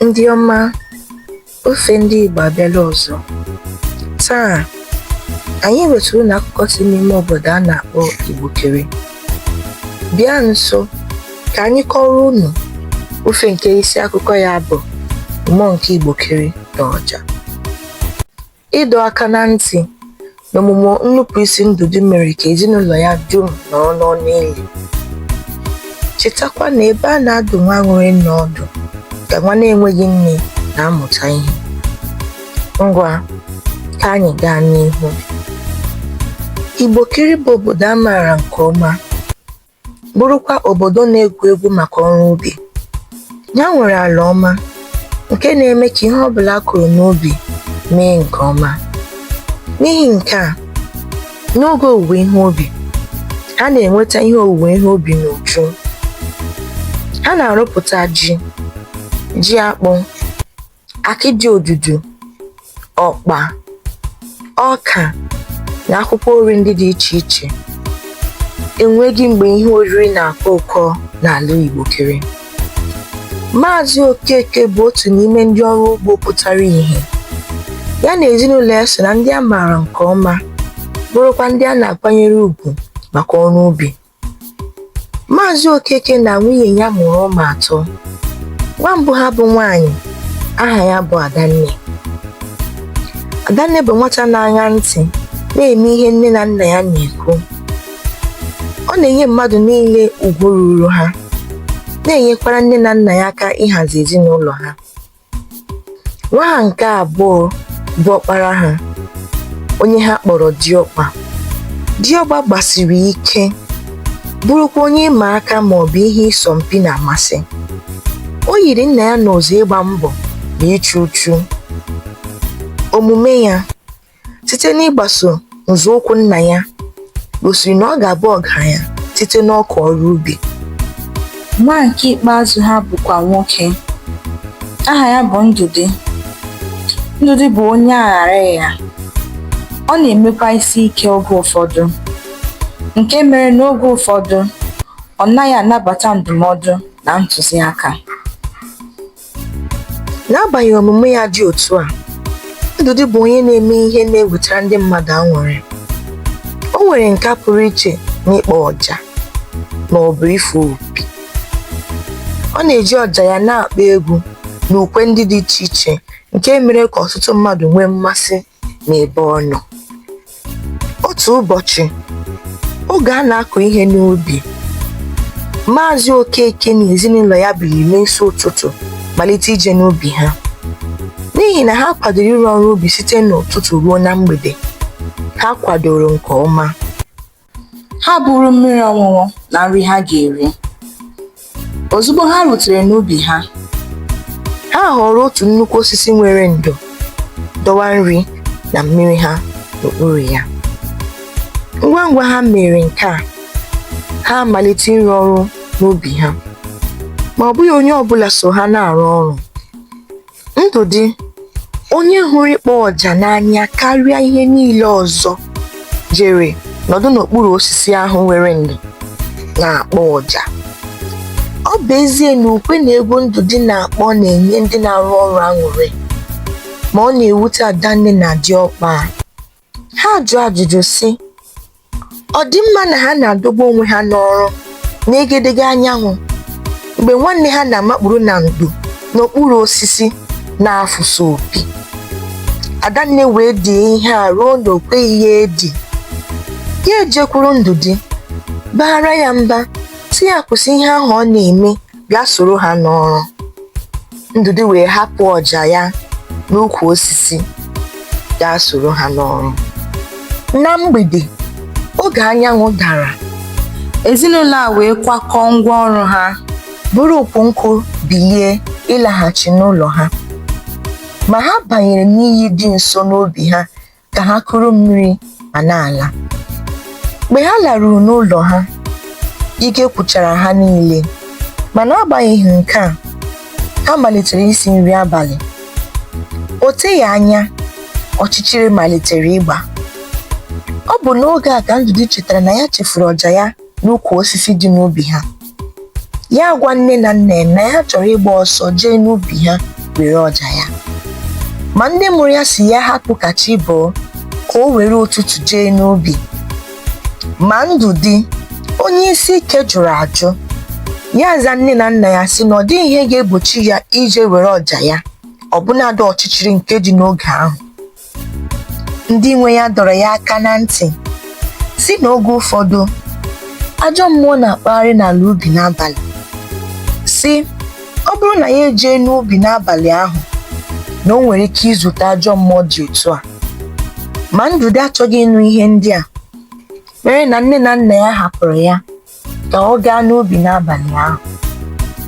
Ndị ọma, ifo ndị Igbo abịala ọzọ. Taa, anyị wetara unu akụkọ si n'ime obodo a na-akpọ Igbokere. Bịa nso ka anyị kọrọ unu ifo nke isi akụkọ ya bụ Mmụọ nke Igbokere na Ọja. Ịdọ aka na ntị n'omume nnupụisi Ndụdị mere ka ezinụlọ ya dum nọrọ n'ọnụ ili. Chetakwa na ebe a na-adụ nwa nwere nne ọdụ ka nwa na-enweghị nne na-amụta ihe. Ngwa, ka anyị gaa n'ihu. Igbokere bụ obodo a maara nke ọma. bụrụkwa obodo na-ewu ewu maka ọrụ ubi. Ya nwere ala ọma nke na-eme ka ihe ọbụla a kụrụ n'ubi mee nke ọma. N'ihi nke a, n'oge owuwe ihe ubi, ha na-enweta ihe owuwe ihe ubi n'uju. Ha na-arụpụta ji, ji akpụ, akịdị odudu ọkpa ọka na akwụkwọ nri ndị dị iche iche enweghị mgbe ihe oriri na-akọ ụkọ n'ala Igbokere Maazị Okeke bụ otu n'ime ndị ọrụ ugbo pụtara ihe ya na ezinụlọ ya so na ndị a maara nke ọma bụrụkwa ndị a na-akwanyere ugwu maka ọrụ ubi Maazị Okeke na nwunye ya mụrụ ụmụ atọ. Nwa mbụ ha bụ nwaanyị, aha ya bụ Adanne. Adanne bụ nwata na-aṅa ntị na-eme ihe nne na nna ya na-ekwu. Ọ na-enye mmadụ niile ugwu ruuru ha, na-enyekwara nne na nna ya aka ịhazi ezinụlọ ha. nwa ha nke abụọ bụ ọkpara ha onye ha kpọrọ diọkpa diọkpa gbasiri ike bụrụkwa onye ịma aka ma ọ bụ ihe ịsọ mpi na-amasị o yiri nna ya n'ụzọ ịgba mbọ na ịchụ uchu omume ya site n'ịgbaso nzọụkwụ nna ya gosiri na ọ ga-abụ ọgaranya site n'aka ọrụ ubi nwa nke ikpeazụ ha bụkwa nwoke aha ya bụ ndụdị ndụdị bụ onye aghara ya ọ na-emekwa isi ike oge ụfọdụ nke mere na oge ụfọdụ ọ naghị anabata ndụmọdụ na ntụziaka N'agbanyeghị omume ya dị otu a, Ndụdị bụ onye na-eme ihe na-ewetara ndị mmadụ aṅụrị. O nwere nka pụrụ iche n'ịkpọ ọja ma ọ bụ ịfụ opi. Ọ na-eji ọja ya na-akpọ egwu na ukwe ndị dị iche iche nke mere ka ọtụtụ mmadụ nwee mmasị n'ebe ọ nọ otu ụbọchị oge a na-akụ ihe n'ubi maazị okeke na ezinụlọ ya biliri n'isi ụtụtụ malite ije n'ubi ha n'ihi na ha kwadoro ịrụ ọrụ ubi site n'ụtụtụ ruo na mgbede ha kwadoro nke ọma ha buru mmiri ọṅụṅụ na nri ha ga-eri ozugbo ha rutere n'ubi ha ha họrọ otu nnukwu osisi nwere ndo dọwa nri na mmiri ha n'okpuru ya ngwa ngwa ha mere nke a ha amalite ịrụ ọrụ n'ubi ha ma ọ bụghị onye ọ bụla so ha na-arụ ọrụ Ndụdị onye hụrụ ịkpọ ọja n'anya karịa ihe niile ọzọ jere nọdụ n'okpuru osisi ahụ nwere ndo na-akpọ ọja. Ọ bụ ezie na ukwe na egwu Ndụdị na-akpọ na-enye ndị na-arụ ọrụ aṅụrị, ma ọ na-ewute Adanne na Diọkpa. Ha jụọ ajụjụ sị, ọ dị mma na ha na-adọgbu onwe ha n'ọrụ n'egedege anyanwụ mgbe nwanne ha na-amakpuru na ndo n'okpuru osisi na-afụsa opi. Adanne wee die ihe a ruo na o kweghị ya edi. Ya ejekwuru Ndụdị, baara ya mba, sị ya kwụsị ihe ahụ ọ na-eme bịa soro ha n'ọrụ ndụdị wee hapụ ọja ya n'ukwu osisi gaa soro ha n'ọrụ na mgbede oge anyanwụ dara ezinụlọ a wee kwakọọ ngwa ọrụ ha buru ukwu nkụ bilie ịlaghachi n'ụlọ ha ma ha banyere n'iyi dị nso n'obi ha ka ha kuru mmiri ma na-ala mgbe ha laruru n'ụlọ ha ike gwụchara ha niile ma n'agbanyeghị nke a ha malitere isi nri abalị o teghị anya ọchịchịrị malitere ịgba ọ bụ n'oge a ka Ndụdị chetara na ya chefuru ọja ya n'ukwu osisi dị n'ubi ha ya agwa nne na nna ya na ya chọrọ ịgba ọsọ jee n'ubi ha were ọja ya ma ndị mụrụ ya sị ya hapụ ka chi bọọ ka o were ụtụtụ jee n'ubi ma ndụdị onye isi ike jụrụ ajụ ya aza nne na nna ya sị na ọ dịghị ihe ga-egbochi ya ije were ọja ya ọbụnadị ọchịchịrị nke dị n'oge ahụ ndị nwe ya dọrọ ya aka na ntị sị na oge ụfọdụ ajọ mmụọ na-akpagharị n'ala ubi n'abalị sị ọ bụrụ na ya ejee n'ubi n'abalị ahụ na o nwere ike izute ajọ mmụọ dị otu a ma ndụdị achọghị ịnụ ihe ndị a mere na nne na nna ya hapụrụ ya ka ọ gaa n'ubi n'abalị ahụ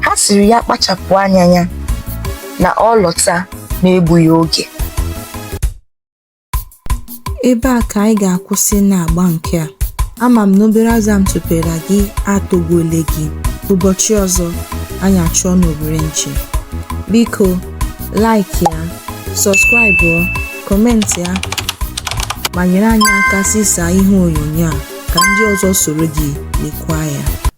ha sịrị ya kpachapụ anya ya na ọ lọta n'egbughị oge ebe a ka anyị ga-akwụsị n'agba nke a ama m na obere azụ m tụpere gị atọgbuole gị ụbọchị ọzọ anyị achụọ n'owere nchi biko like ya sọskraịbụ kọmentị ya ma nyere anyị aka zisaa ihe onyonyo a ka ndị ọzọ soro gị lekwa ya.